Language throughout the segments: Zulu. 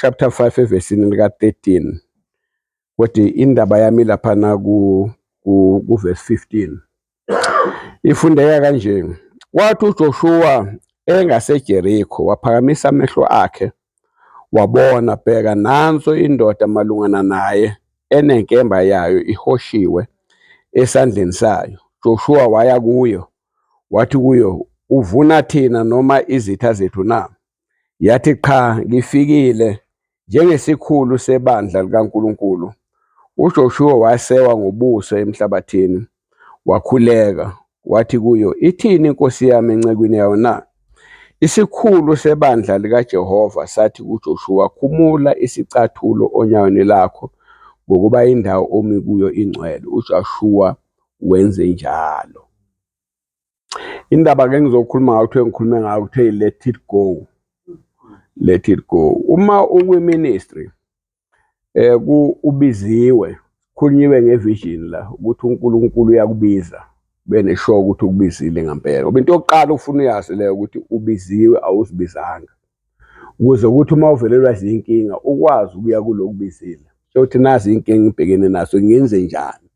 chapter 5 evesini lika 13 kodwa indaba yami laphana ku ku verse 15 ifundeka kanje kwathi uJoshua engaseJerikho waphakamisa amehlo akhe wabona bheka nanso indoda malungana naye enenkemba yayo ihoshiwe esandleni sayo Joshua waya kuyo wathi kuyo uvuna thina noma izitha zethu na Yathi, Qha, ngifikile njengesikhulu sebandla likaNkulunkulu. UJoshuwa wasewa ngobuso emhlabathini, wakhuleka, wathi kuyo, Ithini inkosi yami encekwini yayo na? Isikhulu sebandla likaJehova sathi kuJoshuwa, Khumula isicathulo onyaweni lakho, ngokuba indawo omi kuyo ingcwele. UJoshuwa wenze njalo. indaba ke ngizokhuluma ngayo kuthiwe ngikhulume ngayo kuthiwe let it go let it go uma ukwi-ministry eh ku ubiziwe khulunyiwe ngevision la ukuthi uNkulunkulu uyakubiza bene sure ukuthi ukubizile ngempela ngoba into yokuqala ufuna uyazi leyo ukuthi ubiziwe awuzibizanga ukuze ukuthi uma uvelelwa zinkinga ukwazi ukuya kulokubizile ukuthi nazi inkinga ngibhekene naso ngenze njani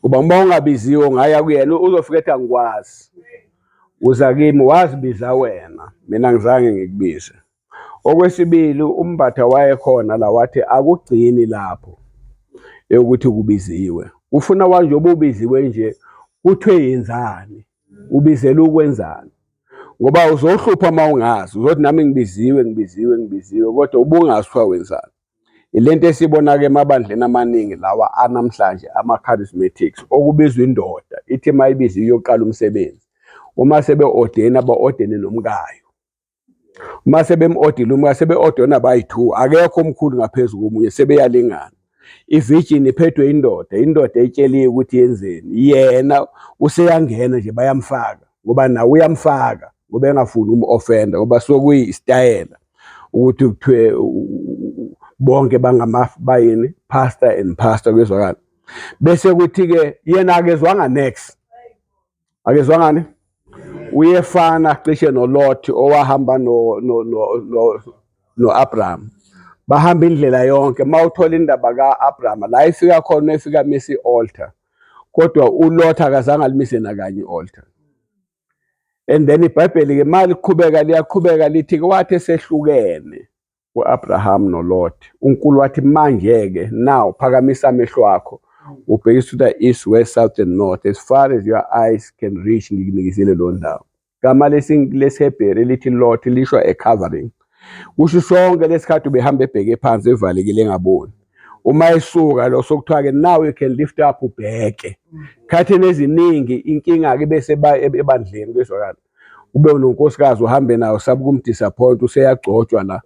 kuba uma ungabiziwe ungaya kuyena uzofika ethi angikwazi uza kimi wazibiza wena mina ngizange ngikubize okwesibili umbatha wayekhona la wathi akugcini lapho eyokuthi kubiziwe ufuna wanje obubiziwe nje kuthiwe yenzani Ubizela ukwenzani? Ngoba uzohlupha uma ungazi, uzothi nami ngibiziwe ngibiziwe ngibiziwe kodwa ubungazi kuthiwa wenzani. Ile nto esibona-ke emabandleni amaningi lawa anamhlanje ama-charismatics okubizwa indoda ithi uma ibiziwe iyoqala umsebenzi. Uma sebe-odeni aba-odene nomkayo. uma sebemodile uma sebe-ode nabayi-two akekho omkhulu ngaphezu komunye sebeyalingana ivijini iphethwe indoda indoda etsheliwe ukuthi yenzeni yena useyangena nje bayamfaka ngoba nawe uyamfaka ngoba engafuni umu-ofenda ngoba sokuyisitayela ukuthi kuthiwe bonke bangama bayini pastor and pastor kuyezwakala bese kuthi-ke yena akezwanga next akezwa ngani uyefana cishe noLothi owahamba no no no no, no Abraham bahamba indlela yonke mawuthola indaba kaAbraham la ifika khona efika misi altar kodwa uLothi akazange alimise nakanye altar and then ibhayibheli ke mali qhubeka liyaqhubeka lithi kwathi sehlukene u-Abraham noLot. UNkulu wathi manje-ke now phakamisa amehlo akho ubhekise to the east, west, south and north as far as your eyes can reach ngikunikizile lo ndawo. Gama lesiHebheru elithi Lot lisho a covering. Kusho sonke lesikhathi ubehamba ebheke phansi evalekile engaboni. Uma esuka lo sokuthiwa-ke now you can lift up ubheke. Khathini eziningi inkinga-ke bese ebandleni kwezwakala. ube unonkosikazi uhambe nayo sabe ukumdisappoint useyagcotshwa la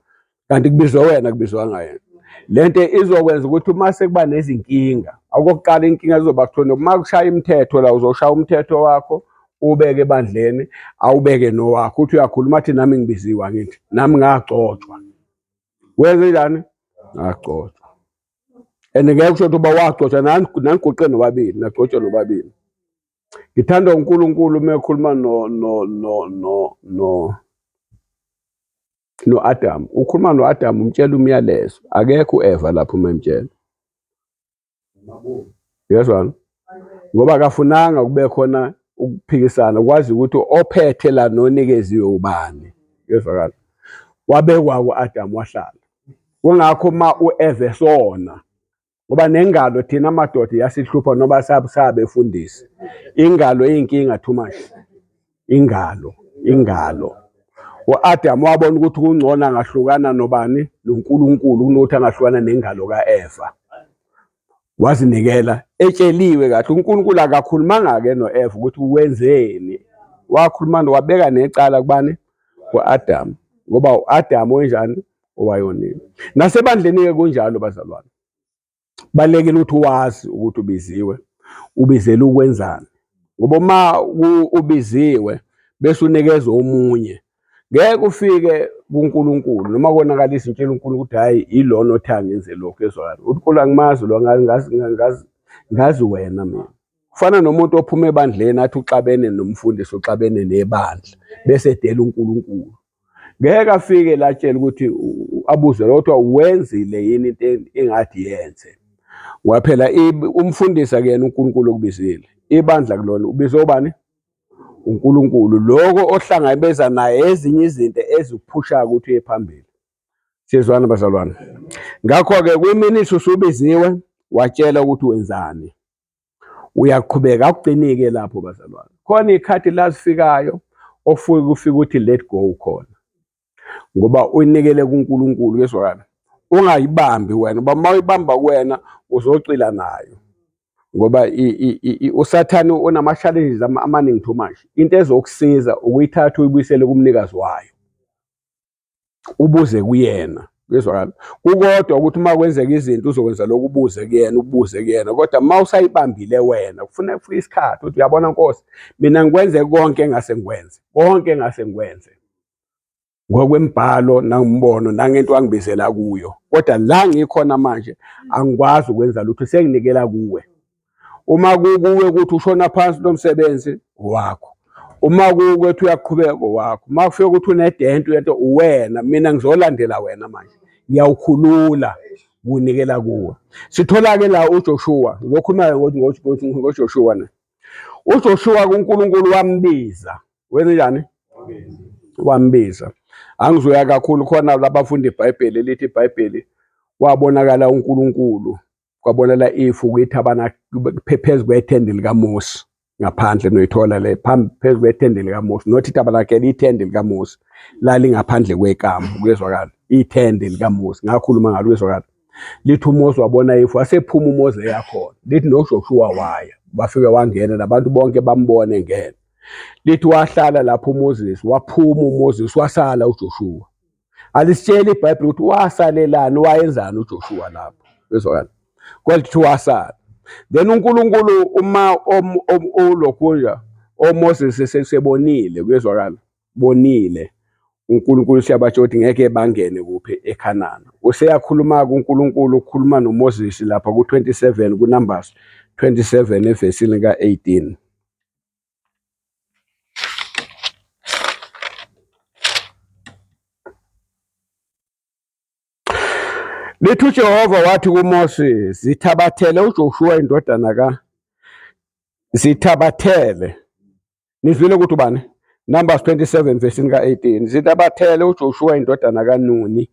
kanti kubizwe wena kubizwa ngaye lento izokwenza ukuthi uma sekuba nezinkinga okokuqala inkinga izoba kuthona uma kushaya imithetho la uzoshaya umthetho wakho ubeke ebandleni awubeke nowakho uthi uyakhuluma athi nami ngibiziwa ngithi nami ngagcotshwa wenze njani ngagcotshwa and ngeke kusho ukuthi uba wagcotshwa naniguqe nobabili nagcotshwa nobabili Ngithanda uNkulunkulu uma ekhuluma no no no no no no-Adamu. Ukhuluma no-Adamu umtshela umyalezo. Akekho u-Eva lapho uma emtshela. Uyezwana? Ngoba akafunanga kube khona ukuphikisana kwazi ukuthi ophethe la nonikeziwe ubani. Uyezwakala? Wabekwa ku-Adamu wahlala. Kungakho uma u-Eva esona ngoba nengalo thina madoda yasihlupha noba sabusabe efundisi ingalo eyinkinga too much ingalo ingalo uAdam wabona ukuthi kungcono angahlukana nobani noNkulunkulu kunokuthi angahlukana nengalo kaEva wazinikela etsheliwe kahle uNkulunkulu akakhulumanga ke noEva ukuthi wenzeni wakhuluma wabeka necala kubani uAdam ngoba uAdam wenjani owayonile. Nasebandleni-ke kunjalo bazalwane. Balekile ukuthi wazi ukuthi ubiziwe, ubizele ukwenzani. Ngoba uma ubiziwe bese unikezwe omunye, ngeke ufike kuNkulunkulu noma konakala izintshela uNkulunkulu ukuthi hhayi ilona othi angenze lokhu ezwakala. UNkulunkulu angimazi lo ngazi wena mina. Kufana nomuntu ophuma ebandleni athi uxabene nomfundisi, uxabene nebandla bese edela uNkulunkulu. ngeke afike la tshela ukuthi abuze kodwa wenzile yini into engathi yenze ngoba phela umfundisi akuyena uNkulunkulu okubizile ibandla kulona ubize obani uNkulunkulu lokho ohlangabeza naye ezinye izinto ezikuphushayo ukuthi uye phambili sizwana bazalwane ngakho-ke kwiminithi usubiziwe watshela ukuthi wenzani uyaqhubeka akuqinike lapho bazalwane khona ikhathi lazifikayo ofuke kufika ukuthi let go khona ngoba uyinikele kuNkulunkulu uyezwakala ungayibambi wena uba uma uyibamba kuwena uzocila nayo ngoba usathane unama-challenges amaningi too much into ezokusiza ukuyithatha uyibuyisele kumnikazi wayo ubuze kuyena kuyezwakala kukodwa ukuthi uma kwenzeka izinto uzokwenza lokhu ubuze kuyena ubuze kuyena kodwa uma usayibambile wena kufuna kufika isikhathi ukuthi uyabona nkosi mina ngikwenze konke engase ngikwenze konke engase ngikwenze ngokwembhalo nangumbono nangento angibizela kuyo kodwa la ngikhona manje angikwazi ukwenza lutho senginikela kuwe uma kukuwe ukuthi ushona phansi lo msebenzi wakho uma kukuwe ukuthi uyaqhubeka wakho uma kufika ukuthi unedenti uyento uwena mina ngizolandela wena manje ngiyawukhulula kunikela kuwe sithola-ke la ujoshua ngizokhuluma ngojoshua ne uJoshua kuNkulunkulu wambiza wenze njani wambiza angizoya kakhulu khona labafundi iBhayibheli elithi iBhayibheli wabonakala uNkulunkulu kwabonela ifu ukuthi abana phezu kwethende likaMose ngaphandle noyithola le phambi phezu kwethende likaMose not itabernakele ithende likaMose lalingaphandle kwekamu kuyezwakala ithende likaMose ngakhuluma ngalo kuyezwakala lithi uMose wabona ifu wasephuma uMose yakhona lithi noJoshua waya bafike wangena nabantu bonke bambone ngena lithi wahlala lapho uMoses waphuma uMoses wasala uJoshua alisitsheli ibhayibhile ukuthi wasalelani wayenzani uJoshua lapho bezwakala kodwa kuthiwa wasala then uNkulunkulu uma ulokhunja oMoses esebonile kuyezwakala bonile uNkulunkulu siyabatsho ukuthi ngeke bangene kuphi eKhanana useyakhuluma kuNkulunkulu ukhuluma noMoses lapha ku27 kuNumbers 27 evesini ka18 Lithi uJehova wathi kuMose, zithabathele uJoshua indodana ka zithabathele. Nizwile ukuthi ubani? Numbers 27 verse ka 18. Zithabathele uJoshua indodana kaNuni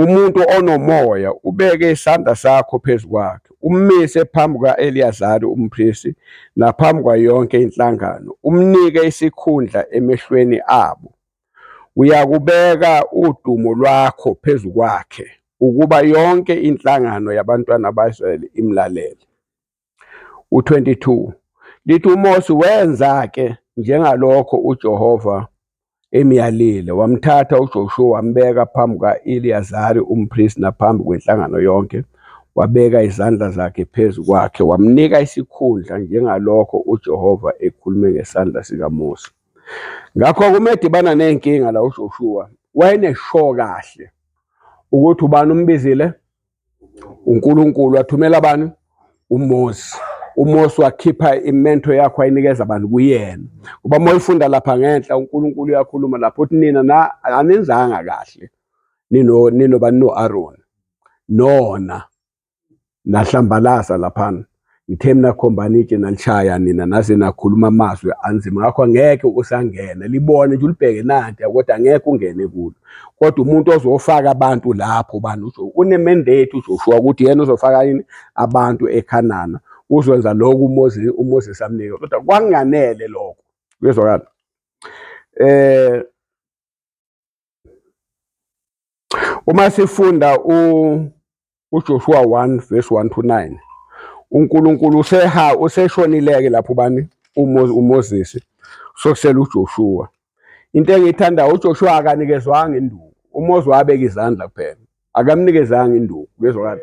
Umuntu onomoya ubeke isandla sakho phezu kwakhe, ummise phambi kuka-Eliyazari umpristi naphambi kwayo yonke inhlangano, umnike isikhundla emehlweni abo. Uyakubeka udumo lwakho phezu kwakhe, ukuba yonke inhlangano yabantwana baka-Israyeli imlalele. U-22 lithi uMose wenza-ke njengalokho uJehova emyalile, wamthatha uJoshuwa wambeka phambi kuka-Eliyazari umpristi naphambi kwenhlangano yonke, wabeka izandla zakhe phezu kwakhe, wamnika isikhundla njengalokho uJehova ekhulume ngesandla sikaMose. Ngakho-ke uma edibana ney'nkinga la uJoshuwa wayenesho kahle ukuthi ubani umbizile uNkulunkulu wathumela abantu uMose uMose wakhipha imento yakho ayinikeza abantu kuyena kuba uma uyifunda lapha ngenhla uNkulunkulu uyakhuluma lapho uthi nina na anenzanga kahle nino nino banino Aaron nona nahlambalaza laphana Ngithe mina khombani itshe nalishaya nina naze nakhuluma amazwi anzima ngakho angeke usangena libone nje ulibheke nanti kodwa angeke ungene kulo kodwa umuntu ozofaka abantu lapho bani usho unemendate uJoshua ukuthi yena uzofaka yini abantu eKhanana uzokwenza lokho uMoses uMoses amnike kodwa kwanganele lokho kuyezwakala eh Uma sifunda uJoshua 1 verse 1 to 9 uNkulunkulu useha useshonileke lapho bani uMoses sokusela uJoshua into engiyithandayo uJoshua akanikezwanga induku uMoses wabeka izandla kuphela akamnikezanga induku kuyezwakala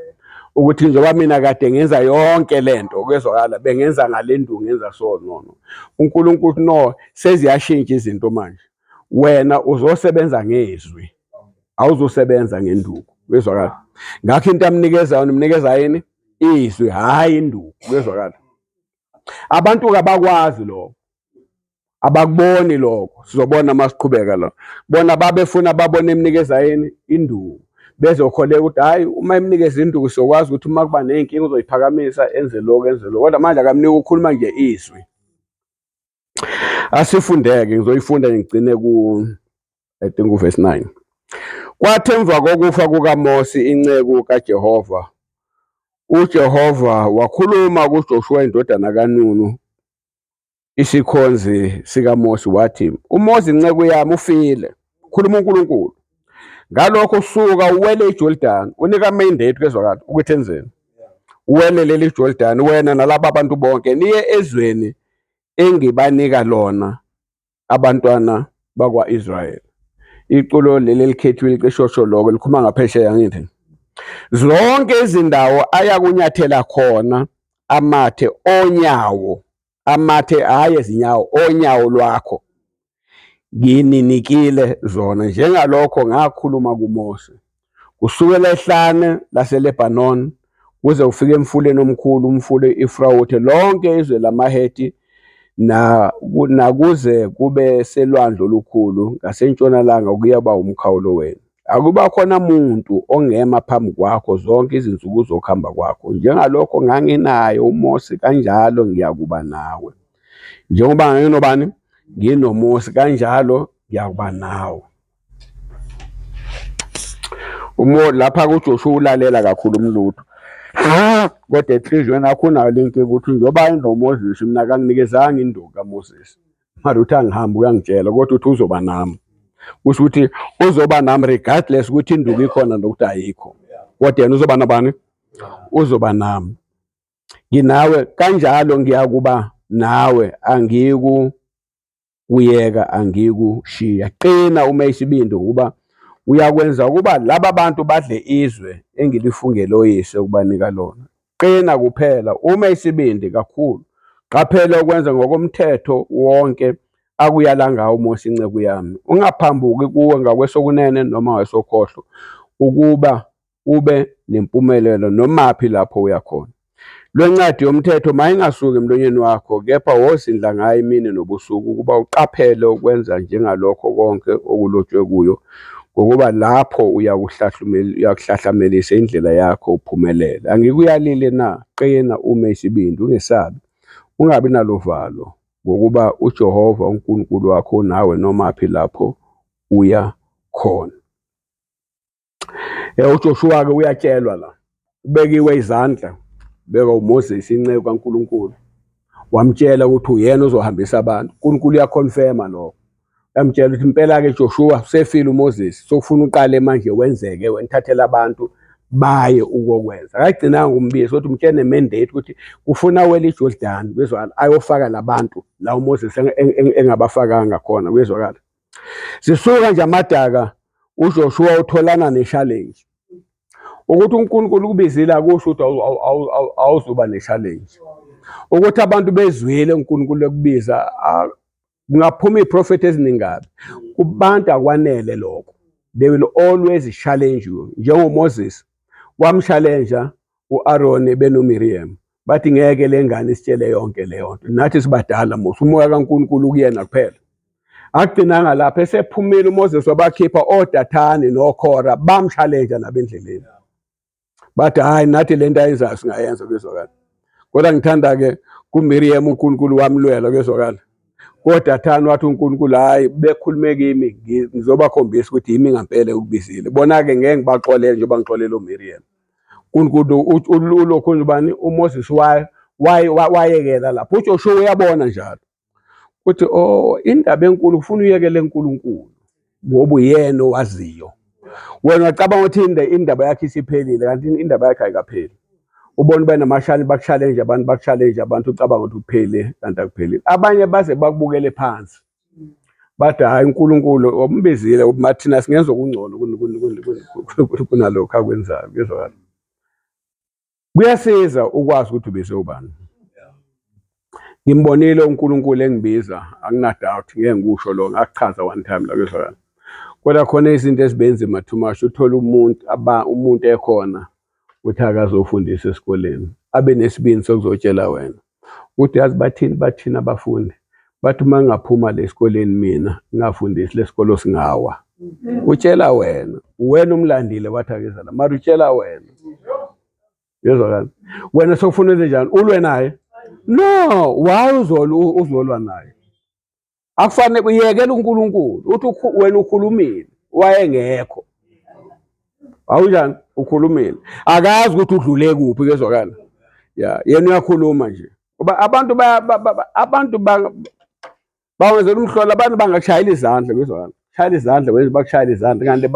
ukuthi njengoba mina kade ngenza yonke lento kuyezwakala bengenza ngale nduku ngenza so no no uNkulunkulu no seziyashintsha izinto manje wena uzosebenza ngezwi awuzosebenza ngenduku kuyezwakala ngakho into amnikeza yona umnikeza yini izwi hayi induku kuyezwakala abantu kabakwazi lokho abakuboni lokho sizobona uma siqhubeka lo bona babefuna babone emnikeza yini induku bezokholeka ukuthi hhayi uma emnikeza induku siyokwazi ukuthi uma kuba ney'nkinga uzoyiphakamisa enze lokhu enze lokhu kodwa manje akamnike ukukhuluma nje izwi asifundeke ngizoyifunda ngigcine ku i think uverse 9 kwathi emva kokufa kukaMose inceku kaJehova uJehova wakhuluma kuJoshua indodana kaNunu isikhonzi sikaMosi wathi, uMosi inceku yami ufile, khuluma uNkulunkulu. Ngalokho suka uwele iJordani, unika mandate kwezwakala ukuthi enzeni. Uwele leli Jordani wena nalaba abantu bonke niye ezweni engibanika lona abantwana bakwa-Israyeli. Iculo leli elikhethiwe liqeshosho lokho likhuluma ngaphesheya ngithi zonke izindawo ayakunyathela khona amathe onyawo amathe hhayi ezinyawo onyawo lwakho ngininikile zona njengalokho ngakhuluma kuMose kusukela ehlane laseLebanon kuze ufike emfuleni omkhulu umfula i-Efrawuthe lonke izwe lamaHeti nakuze kube selwandle olukhulu ngasentshonalanga kuyoba umkhawulo wenu. Akubakhona muntu ongema phambi kwakho zonke izinsuku zokuhamba kwakho, njengalokho nganginaye uMose, kanjalo ngiyakuba nawe. Njengoba nganginobani? NginoMose, kanjalo ngiyakuba nawe. Umo lapha kuJoshuwa ulalela kakhulu umlutho. Kodwa enhliziyweni yakho unayo le nkinga ukuthi njengoba inoMoses mina kanginikezanga induku kaMoses. mara uthi angihambi uyangitshela kodwa uthi uzoba nami kusho ukuthi uzoba nami regardless ukuthi induku ikhona nokuthi ayikho kodwa yena uzoba nabani uzoba nami nginawe kanjalo ngiyakuba nawe angiku kuyeka angikushiya qina uma isibindi ukuba uyakwenza ukuba laba bantu badle izwe engilifungele oyise ukubanika lona Qina kuphela uma isibindi kakhulu. Qaphela ukwenza ngokomthetho wonke akuyala ngawo uMose inceku yami. Ungaphambuki kuwe ngakwesokunene noma wesokhohlo ukuba ube nempumelelo nomaphi lapho uya khona. Lwencwadi yomthetho mayingasuki emlonyeni wakho kepha wozindla ngayo imini nobusuku ukuba uqaphele ukwenza njengalokho konke okulotshwe kuyo Ngokuba lapho uyakuhlahlamelisa indlela yakho uphumelele. Angikuyalile na? Qina ume isibindi, ungesabi. Ungabi naluvalo, ngokuba uJehova uNkulunkulu wakho unawe nomaphi lapho uya khona. Eh, uJoshuwa-ke uyatshelwa la. ubekiwe izandla beka uMoses inceku kaNkuluNkulu wamtshela ukuthi uyena ozohambisa abantu uNkulunkulu uyaconfirma lokho yamtshela ukuthi impela ke Joshua usefile uMoses sokufuna uqale manje wenzeke wenithathela abantu baye ukokwenza akagcinanga umbizo ukuthi umtshene mandate ukuthi ufuna wele iJordan bezwakala ayofaka labantu la uMoses engabafakanga khona kuyezwakala Sisuka nje amadaka uJoshua utholana ne-challenge. Ukuthi uNkulunkulu ukubizile akusho ukuthi awuzuba ne-challenge. Ukuthi abantu bezwile uNkulunkulu ekubiza kungaphuma iy'profethi eziningi kabi. Kubantu akwanele lokho. They will always challenge you. NjengoMoses wamshalenja u-Aroni benoMiriyamu. bathi ngeke le ngane isitshele yonke leyo nto nathi sibadala musa umoya kaNkulunkulu kuyena kuphela agcinanga lapha esephumile uMoses wabakhipha oDathane noKhora bamshalenja nabendleleni bathi hayi nathi le nto ayenzayo singayenza kwezwakala kodwa ngithanda ke kuMiriam uNkulunkulu wamlwela kwezwakala kodwa thani wathi uNkulunkulu hayi bekhulume kimi ngizobakhombisa ukuthi yimi ngampela ukubizile bona-ke ngeke ngibaxolele njengoba ngixolele uMiriam ulokhu ubani uMoses wayekela lapho uJoshuwa uyabona njalo ukuthi o oh, indaba enkulu kufuna uyekele uNkulunkulu ngoba uyena owaziyo wena wacabanga ukuthi indaba yakhe isiphelile kanti indaba yakhe ayikapheli ubona uba namashani bakushalenje abantu bakushalenje abantu ucabanga ukuthi kuphele kanti akuphelile abanye baze bakubukele phansi bathi hhayi uNkulunkulu ombizile uma thina singenza okungcono kunalokho akwenzayo kuyezwakala kuyasiza ukwazi ukuthi ubize ubani ngimbonile uNkulunkulu engibiza anginadoubt ngeke ngikusho lo ngakuchaza one time la kuyezwakala kodwa khona izinto ezibenzima too much uthola umuntu aba umuntu ekhona ukuthi akazofundisa esikoleni abe nesibindi sokuzotshela wena Uthi yazi bathini bathina abafundi bathi uma ngingaphuma le sikoleni mina ngingafundisi le sikolo singawa utshela wena wena umlandile wathi akezela mara utshela wena yezwakala wena sokufuna enze njani ulwe naye no why uzolwa uzolwa naye akufanele uyekela uNkulunkulu uthi wena ukhulumile wayengekho awunjani ukhulumile akazi ukuthi udlule kuphi kezwakala ya yena uyakhuluma nje ngoba abantu abantu bawenzela umhlola abantu bangashayela izandla kezwakala shayela izandla wenze bakushayela izandla kanti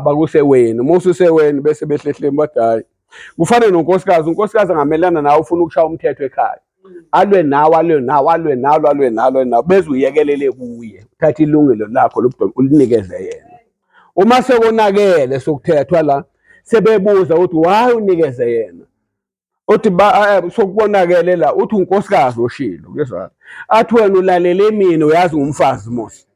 bakuseweni uma ususeweni bese behlehleni bathi hhayi kufane nonkosikazi unkosikazi angamelana nawe ufuna ukushaya umthetho ekhaya alwe nawe alwe nawe alwe nalo alwe nalo nawe beze uyekelele kuye uthathe ilungelo lakho lobudoda ulinikeze yena uma sekonakele sokuthethwa la sebebuza ukuthi why unikeze yena othi ba eh, sokukonakele la uthi unkosikazi oshilo kuyezwakala athi wena ulalele mina uyazi ngumfazi mos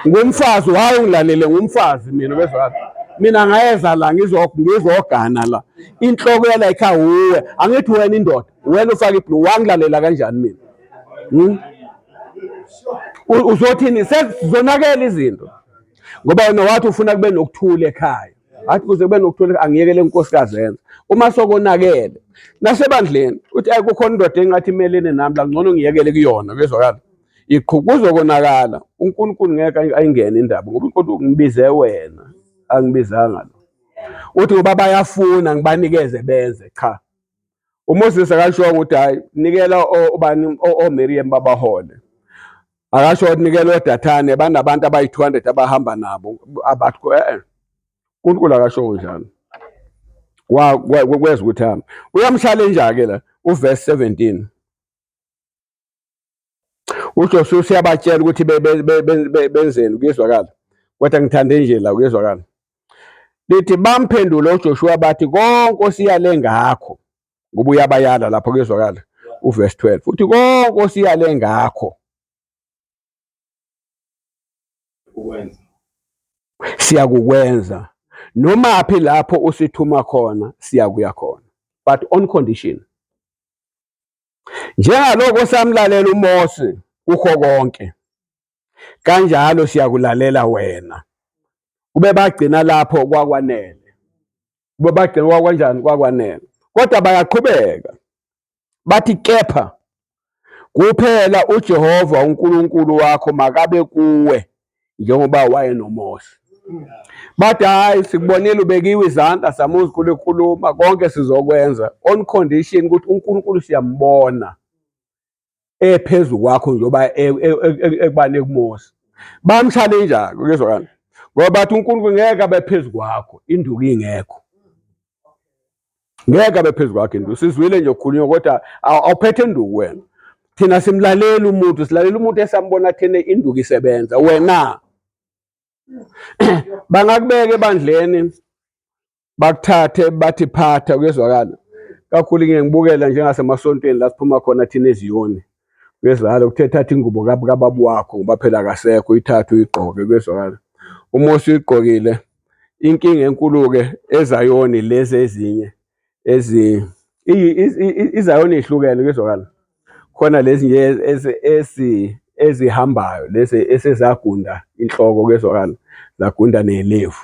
ngumfazi waye ungilalele ngumfazi mina bezwala mina ngayeza la ngizogana la inhloko yala ikha wuwe angithi wena indoda wena ufake iblu wangilalela kanjani mina hmm? uzothini sezonakela izinto ngoba wena wathi ufuna kube nokuthula ekhaya athi kuze kube nokuthula angiyekele inkosikazi yenza uma sokonakele nasebandleni uthi ayi kukhona indoda engathi imelene nami la ngcono ngiyekele kuyona bezwakala iqhukuzwe konakala uNkulunkulu ngeke ayingene indaba ngoba uNkulunkulu ngibize wena angibizanga lo uthi ngoba bayafuna ngibanikeze benze cha uMoses akashongo ukuthi hayi nikela obani oMiriam babahole akasho ukuthi nikela oDathane banabantu abayi-200 abahamba nabo abathi eh uNkulunkulu akasho njalo kweza ukuthi hamba uyamshalenja-ke la uverse 17 uJoshua useyabatshela ukuthi benzeni kuyezwakala kodwa ngithande nje la kuyezwakala lithi bamphendule uJoshua bathi konke osiyale ngakho ngoba uyabayala lapho kuyezwakala uverse 12 uthi konke osiyale ngakho siyakukwenza noma phi lapho usithuma khona siyakuya khona but on condition Njengalokho samlalela uMose kukho konke, kanjalo siyakulalela wena. Kube bagcina lapho kwakwanele. Kube bagcina kwakwanjani kwakwanele. Kodwa bayaqhubeka. Bathi kepha kuphela uJehova uNkulunkulu wakho makabe kuwe njengoba wayenomosha bathi hhayi sikubonile ubekiwe izandla samuzukulu ekhuluma konke sizokwenza on condition ukuthi unkulunkulu siyambona ephezu kwakho njengoba e, e, e, ekubani ekumosa bamshale njalo kuyezwakala ngoba bathi unkulunkulu ngeke abe phezu kwakho induku ingekho ngeke abe phezu kwakhe nduku sizwile nje ukhulunywa kodwa awuphethe nduku wena thina simlaleli umuntu silalela umuntu esambona thene induku isebenza wena bangakubeka ebandleni bakuthathe bathi phatha kuyezwakala kakhulu ngiyengibukela njengasemasontweni la siphuma khona thina eziyoni Kuyezwakala ukuthe thatha ingubo kababa wakho ngoba phela akasekho uyithathe uyigqoke kuyezwakala. Uma usuyigqokile inkinga enkulu-ke ezayoni lezi ezinye ezi izayoni ihlukene kuyezwakala. Khona lezi nje ezihambayo lezi esezagunda inhloko kuyezwakala, zagunda ney'levu.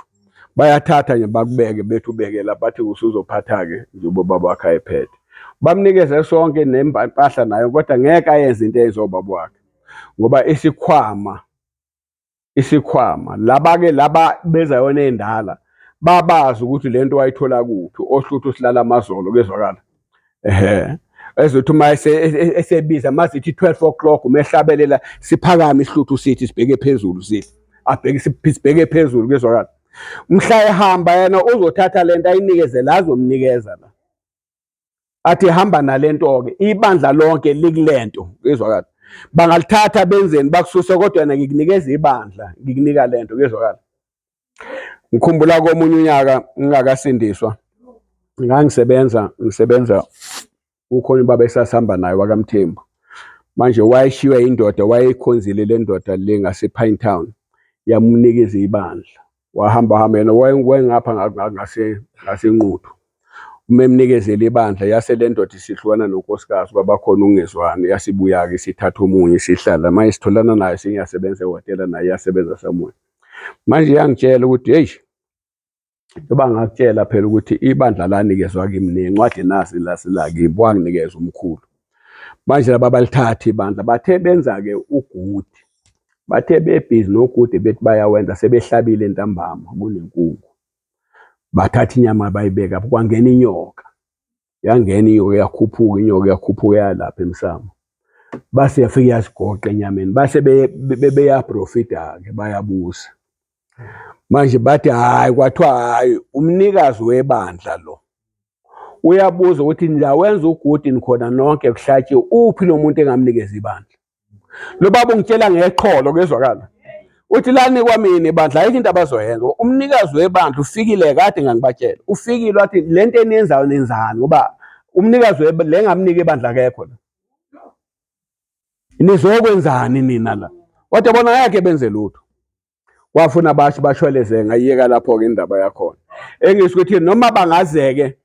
bayathatha nje bakubeke bethi ubekela bathi usuzophatha-ke njengoba ubaba wakhe ayephethe bamnikeze sonke nempahla nayo kodwa ngeke ayenze into eyenze ubaba wakhe ngoba isikhwama isikhwama laba-ke laba beza yona endala babazi ukuthi le nto wayithola kuphi ohluthu silala amazolo kezwakala ehe ezothi uma esebiza mazithi 12 o'clock umehlabelela siphakame ihluthu sithi sibheke phezulu sithi abheke sibheke phezulu kezwakala mhla ehamba yena uzothatha lento ayinikeze la azomnikeza la athi hamba nalento ke ibandla lonke likulento kezwakala bangalithatha benzeni bakususe kodwa yena ngikunikeza ibandla ngikunika lento kezwakala ngikhumbula komunye unyaka ngingakasindiswa ngangisebenza ngisebenza ukhona ubaba esasihamba naye wakamthembu manje wayeshiywe indoda wayeyikhonzile le ndoda le ngase-pine town yamunikeza ibandla wahamba hamba yena wayengapha ngasenquthu uma emnikezela ibandla yase le ndoda isihlukana nonkosikazi uba bakhona ungezwani yasibuya-ke sithatha omunye sihlala manje sitholana nayo sengiyasebenza ehhotela naye iyasebenza samunye manje yangitshela ukuthi heyi njengoba ngakutshela phela ukuthi ibandla lanikezwa kimi nencwadi nasi lasilakimi wanginikeza umkhulu manje laba balithatha ibandla bathe benza-ke ugudi bathe bebhizi nogudi bethi bayawenza sebehlabile entambama kunenkungu bathatha inyama bayibeka kwangena inyoka yangena inyoka yakhuphuka inyoka yakhuphuka yalapha emsamo base yafike yasigoqa enyameni base beyaprofita-ke bayabusa manje bathi hhayi kwathiwa hhayi umnikazi webandla lo uyabuza ukuthi nilawenza ugudini khona nonke kuhlatshiwe uphi lo muntu engamnikeza ibandla lo baba ungitshela ngeqholo kuyezwakala uthi lani kwamina ibandla ayikho into abazoyenza umnikazi webandla ufikile kade ngangibatshela ufikile wathi le nto eniyenzayo nenzani ngoba umnikazi le ngamnika ibandla akekho la nizokwenzani nina la wathi yabona ngeke benze lutho wafuna abashi bashweleze ngayiyeka lapho-ke indaba yakhona engisho ukuthi noma bangazeke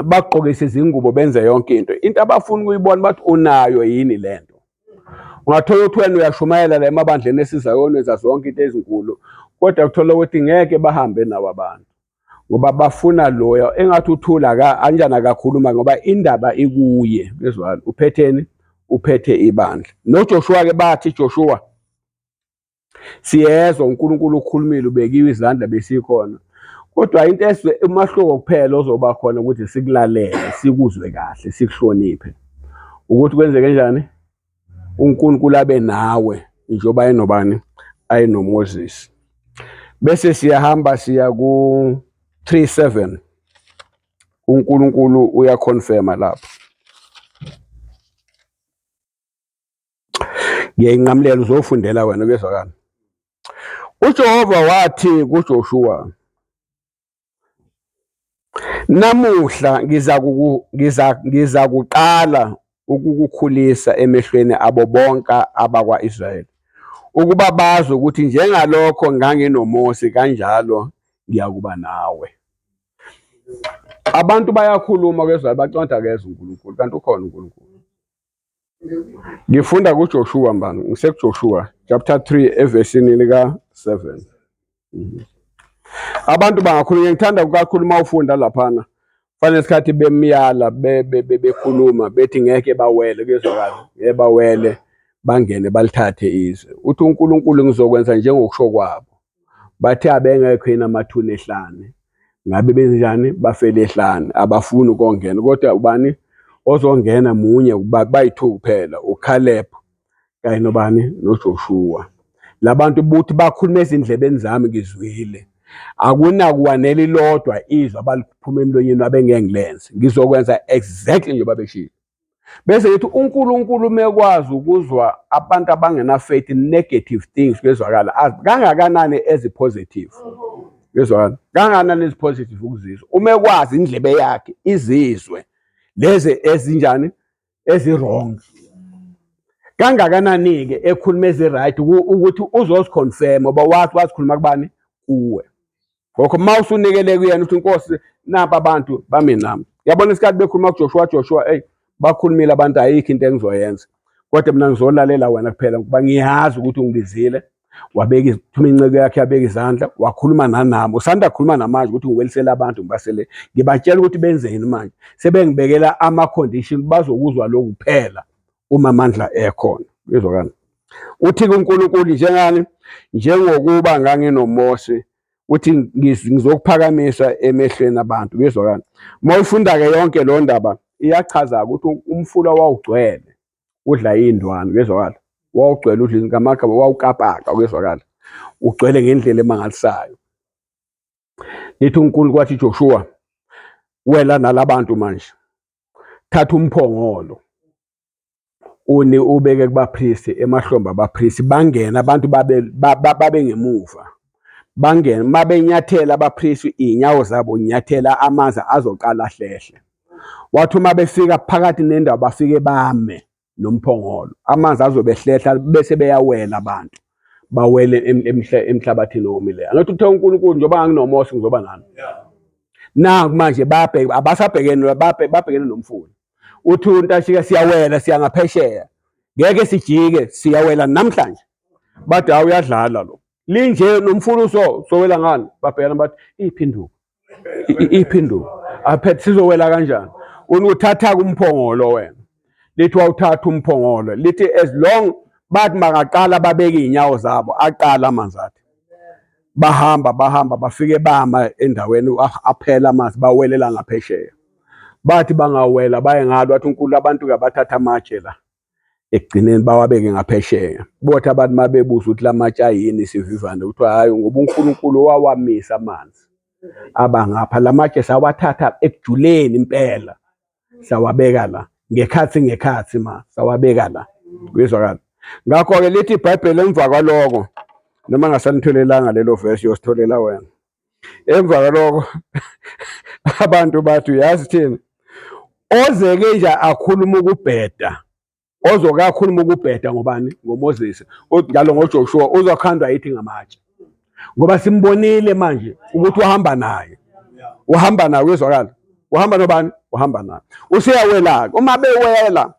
bagqokise izingubo benze yonke into into abafuna ukuyibona bathi unayo yini le nto ungathola ukuthi wena uyashumayela la emabandleni esizayona enza zonke into ezinkulu kodwa kuthola ukuthi ngeke bahambe nawo abantu ngoba bafuna loya engathi uthula ka anjana kakhuluma ngoba indaba ikuye bezwala uphetheni uphethe ibandla noJoshua ke bathi Joshua Siyezwa uNkulunkulu ukhulumile ubekiwe izandla besikhona. Kodwa into eswe umahluko kuphela ozoba khona ukuthi sikulalele, sikuzwe kahle, sikuhloniphe. Ukuthi kwenzeke njani? uNkulunkulu abe nawe njengoba enobani ayenoMoses bese siyahamba siya ku 37 uNkulunkulu uyaconfirma lapho ngiyayinqamulela uzofundela wena kuyezwakala uJehova wathi kuJoshua namuhla ngiza ngiza ngiza kuqala ukukukhulisa emehlweni abo bonke abakwa-Israyeli ukuba bazi ukuthi njengalokho nganginoMose kanjalo ngiyakuba nawe abantu bayakhuluma kezwa baconda kezwa uNkulunkulu kanti ukhona uNkulunkulu Ngifunda kuJoshua mbani? NgisekuJoshua chapter 3 evesini lika 7. Mhm. Abantu bangakhuluma ngithanda kakhulu uma ufunda laphana. Fanele isikhathi bemyala bekhuluma bethi ngeke bawele kuyezwakala. Ngeke bawele bangene balithathe izwe. Uthi uNkulunkulu ngizokwenza njengokusho kwabo. bathe abengekho yini amathuna ehlane ngabe benjani bafele ehlane abafuni ukongena kodwa ubani ozongena munye bayi-two kuphela ucaleb kanye nobani nojoshua la bantu buthi bakhuluma ezindlebeni zami ngizwile akunakuwanela ilodwa izwi abaliphuma emlonyeni wabo engeke ngilenze ngizokwenza exactly njengoba beshilo bese ngithi uNkulunkulu mekwazi ukuzwa abantu abangena faith negative things kwezwakala azi kangakanani ezi positive yezwakala kangakanani ezi positive ukuzizwa uma ekwazi indlebe yakhe izizwe lezi ezinjani ezirong kangakanani ke ekhuluma eziright ukuthi uzoziconfirm oba wathi wazikhuluma kubani kuwe Ngokho uma usunikele kuyena uthi inkosi napa abantu bami nami. Yabona isikhathi bekhuluma kuJoshua Joshua ey bakhulumile abantu ayikho into engizoyenza. Kodwa mina ngizolalela wena kuphela ngoba ngiyazi ukuthi ungibizile wabeka ithuma inceke yakhe yabeka izandla wakhuluma nanami usanda khuluma namanje ukuthi ngiwelisele abantu ngibasele ngibatshela ukuthi benzeni manje sebengibekela ama condition bazokuzwa lokhu kuphela uma amandla ekhona izokani uthi kuNkulunkulu njengani njengokuba nganginoMose uthi ngizokuphakamisa emehlweni abantu kuyezwakala uma ufunda-ke yonke lo ndaba iyachaza-ke ukuthi umfula wawugcwele udla iy'ndwana kuyezwakala wawugcwele udla ngamagama wawukapaka kuyezwakala ugcwele ngendlela emangalisayo Ngithi uNkulunkulu kwathi Joshua wela nalabantu manje thatha umphongolo uni ubeke kubapristi emahlombe abapristi bangena abantu babe babe ngemuva bangena mabenyathela abapristi inyawo zabo nyathela amanzi azoqala hlehle wathi uma befika phakathi nendawo bafike bame nomphongolo amanzi azobe ehlehla bese beyawela abantu bawele emhlabathini owomileyo angathi uthe uNkulunkulu njengoba nganginomosi ngizoba nami naku manje babheke abasabhekene babhekene nomfula uthi untashika siyawela siya ngaphesheya ngeke sijike siyawela namhlanje bathi awuyadlala lo linje nomfula uso sowela ngani babhekana bathi iphinduka iphinduka aphethe sizowela kanjani unuthatha kumphongolo wena lithi wawuthatha umphongolo lithi as long bathi makaqala babeke iy'nyawo zabo aqala amanzi athi bahamba bahamba bafike bama endaweni aphela amanzi bawelela ngaphesheya bathi bangawela baye ngalo wathi unkulu abantu kabathatha amatshe la ekugcineni bawabeke ngaphesheya bothi abantu mabebuza ukuthi lamatshe ayini isivivane kuthiwa hayi ngoba uNkulunkulu wawamisa amanzi abangapha lamatshe sawathatha ekujuleni impela sawabeka la ngekhathi ngekhathi ma sawabeka la kuyizwakala ngakho-ke lithi ibhayibheli emva kwaloko noma ngasanitholelanga lelo vesi yositholela wena emva kwaloko abantu bathi uyazi thina ozeke nje akhuluma ukubheda ozoke akhuluma ukubheda ngobani ngomoses njalo ngojoshua uzokhandwa yithi ngamatshe ngoba simbonile manje ukuthi uhamba naye uhamba naye uyezwakala uhamba nobani uhamba naye useyawela-ke uma bewela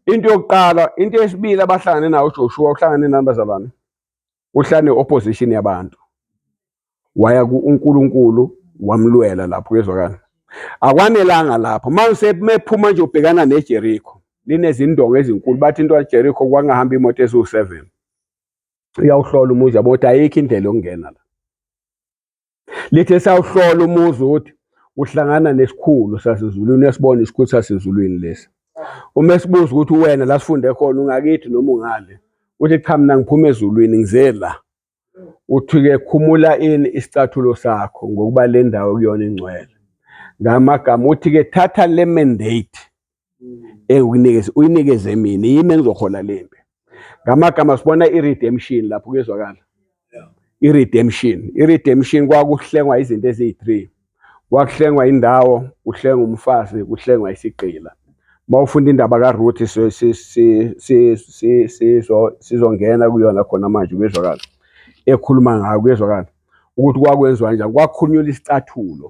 into yokuqala into yesibili abahlangane nawo ujoshua uhlangane nani bazalwane uhlane opposition yabantu waya ku uNkulunkulu wamlwela lapho kezwakala akwanelanga lapho mase mephuma nje ubhekana neJericho linezindonga ezinkulu bathi into yaJericho kwangahamba imoto eziwu7 uyawuhlola umuzi yabo ukuthi ayikho indlela yokungena la lithe sawuhlola umuzi ukuthi uhlangana nesikhulu sasezulwini esibona isikhulu sasezulwini lesi uma esibuza ukuthi wena la sifunde khona ungakithi noma ungale uthi cha mina ngiphuma ezulwini ngize la uthi-ke khumula ini isicathulo sakho ngokuba le ndawo kuyona ingcwele ngamagama uthi-ke thatha le mandate ewunikeze uyinikeze mina yimi engizohola lempi ngamagama sibona i-redemption lapho kuyezwakala i-redemption i-redemption kwakuhlengwa izinto eziyi-three kwakuhlengwa indawo kuhlengwa umfazi kuhlengwa isigqila uma ufunda indaba karuthi sizongena kuyona khona manje kuyezwakala ekhuluma ngayo kuyezwakala ukuthi kwakwenziwa njani kwakhunyula isicathulo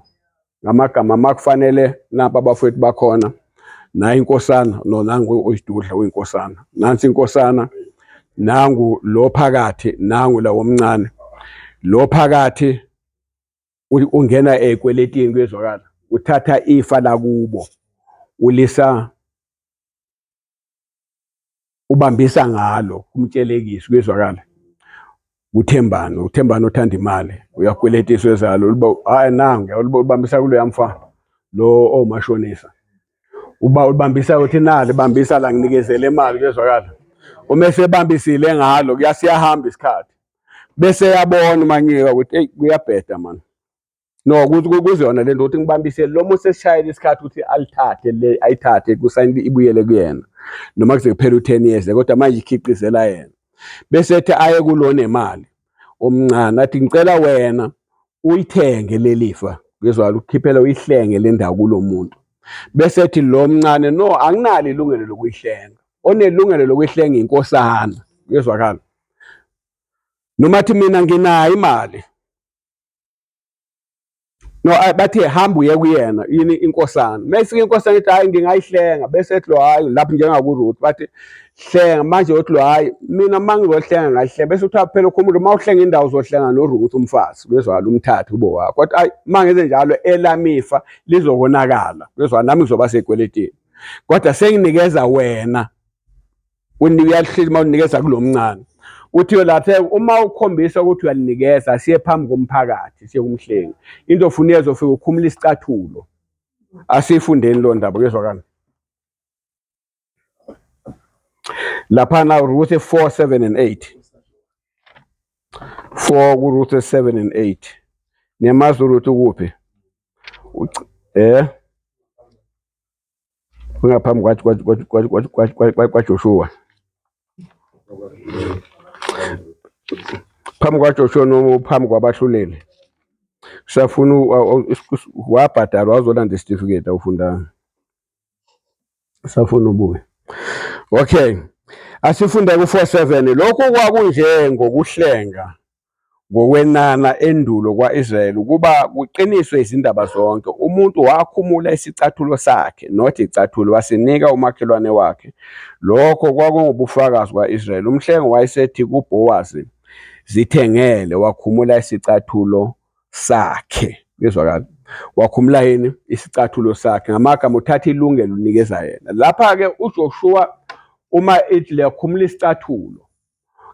ngamagama makufanele napa abafowethu bakhona nayi inkosana no nangu uyidudla uyinkosana nansi inkosana nangu lo phakathi nangu la womncane lo phakathi ungena ekweletini kuyezwakala uthatha ifa lakubo ulisa ubambisa ngalo umtshelekiso kuyezwakala uthembani uthembani othanda imali uyakweletiswa ezalo uba hayi nangu uyalubambisa kuloya mfa lo omashonisa uba ulibambisa uthi nali bambisa la nginikezele imali kuyezwakala uma esebambisile ngalo kuyasiyahamba isikhathi bese yabona umanyiwa ukuthi eyi kuyabheda mani no kuziyona lento ukuthi ngibambisele lo muntu sesishayela isikhathi ukuthi alithathe le ayithathe kusayini ibuyele kuyena noma kuze kuphela u-10 years kodwa manje ikhiqizela yena bese ethi aye kulona imali omncane athi ngicela wena uyithenge lelifa ngizwala ukukhiphela uyihlenge le ndawo kulo muntu bese ethi lo mncane no anginalo ilungelo lokuyihlenga onelungelo lokuyihlenga inkosana ngizwakala noma athi mina nginayo imali no bathe hamba uye kuyena yini inkosana mayifika inkosana ithi hayi ngingayihlenga bese ethi lo hayi lapho njengakuruth bathi hlenga manje uthi lo hayi mina uma ngizohlenga ngayihlenga bese kuthiwa phela ukho umuntu uma uhlenga indawo uzohlenga noruth umfazi kwezwala umthathe ubo wakho kodwa ayi uma ngenze njalo elamifa lizokonakala kwezwa nami ngizoba sekweletini kodwa senginikeza wena unika uyahleli uma unikeza kulo mncane uthi yolathe uma ukhombisa ukuthi uyalinikeza siye phambi komphakathi siye kumhlengi into ofuna uyezo ufike ukhumula isicathulo asiyifundeni lo ndaba kuyezwakala laphana Ruth 4 7 and 8 4 kuRuth 7 and 8 niyamazi uRuth ukuphi eh ngaphambi kwaJoshuwa phambi kwaJoshuwa noma phambi kwabahluleli safuna wabhadalwa wazolanda isitifiketi awufundanga safuna ubuye okay asifunde ku-47 lokhu kwakunje ngokuhlenga ngokwenana endulo kwa-Israyeli ukuba kuqiniswe izindaba zonke, umuntu wakhumula isicathulo sakhe, not icathulo, wasinika umakhelwane wakhe. Lokho kwakungubufakazi kwa-Israyeli. Umhlengi wayesethi kuBhowazi, Zithengele, wakhumula isicathulo sakhe. Kuyezwakala. Wakhumula yini? Isicathulo sakhe. Ngamagama uthatha ilungelo unikeza yena. Lapha-ke uJoshuwa uma ithi liyakhumula isicathulo,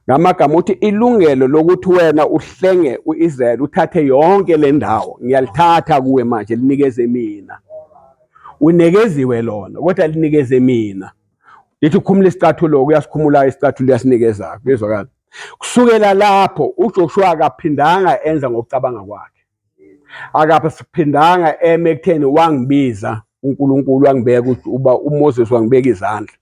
ngamagama uthi ilungelo lokuthi wena uhlenge uIsrael uthathe yonke le ndawo ngiyalithatha kuwe manje linikeze mina unekeziwe lona kodwa linikeze mina lithi ukhumula isicathulo uyasikhumula isicathulo uyasinikeza kuyezwakala kusukela lapho uJoshua akaphindanga enza ngokucabanga kwakhe akabe siphindanga eme ekutheni wangibiza uNkulunkulu wangibeka ukuthi uba uMoses wangibeka izandla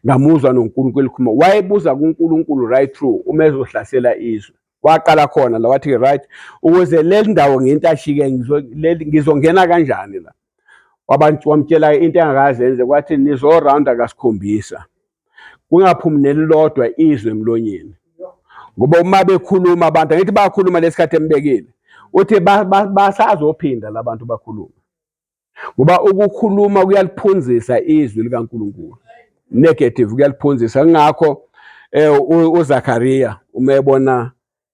ngamuzwa noNkulunkulu elikhuluma wayebuza kuNkulunkulu right through uma ezohlasela izwe waqala khona la wathi right ukuze leli ndawo ngintashike ngizongena kanjani la wamtshela into engakaze enze kwathi nizorawunda kasikhombisa kungaphumi nelilodwa izwe emlonyeni ngoba uma bekhuluma abantu angithi bayakhuluma lesikhathi embekile uthi basazophinda labantu bakhuluma ngoba ukukhuluma kuyaliphunzisa izwi likaNkuluNkulu negative kuyaliphunzisa ngakho eh uZakaria uma ebona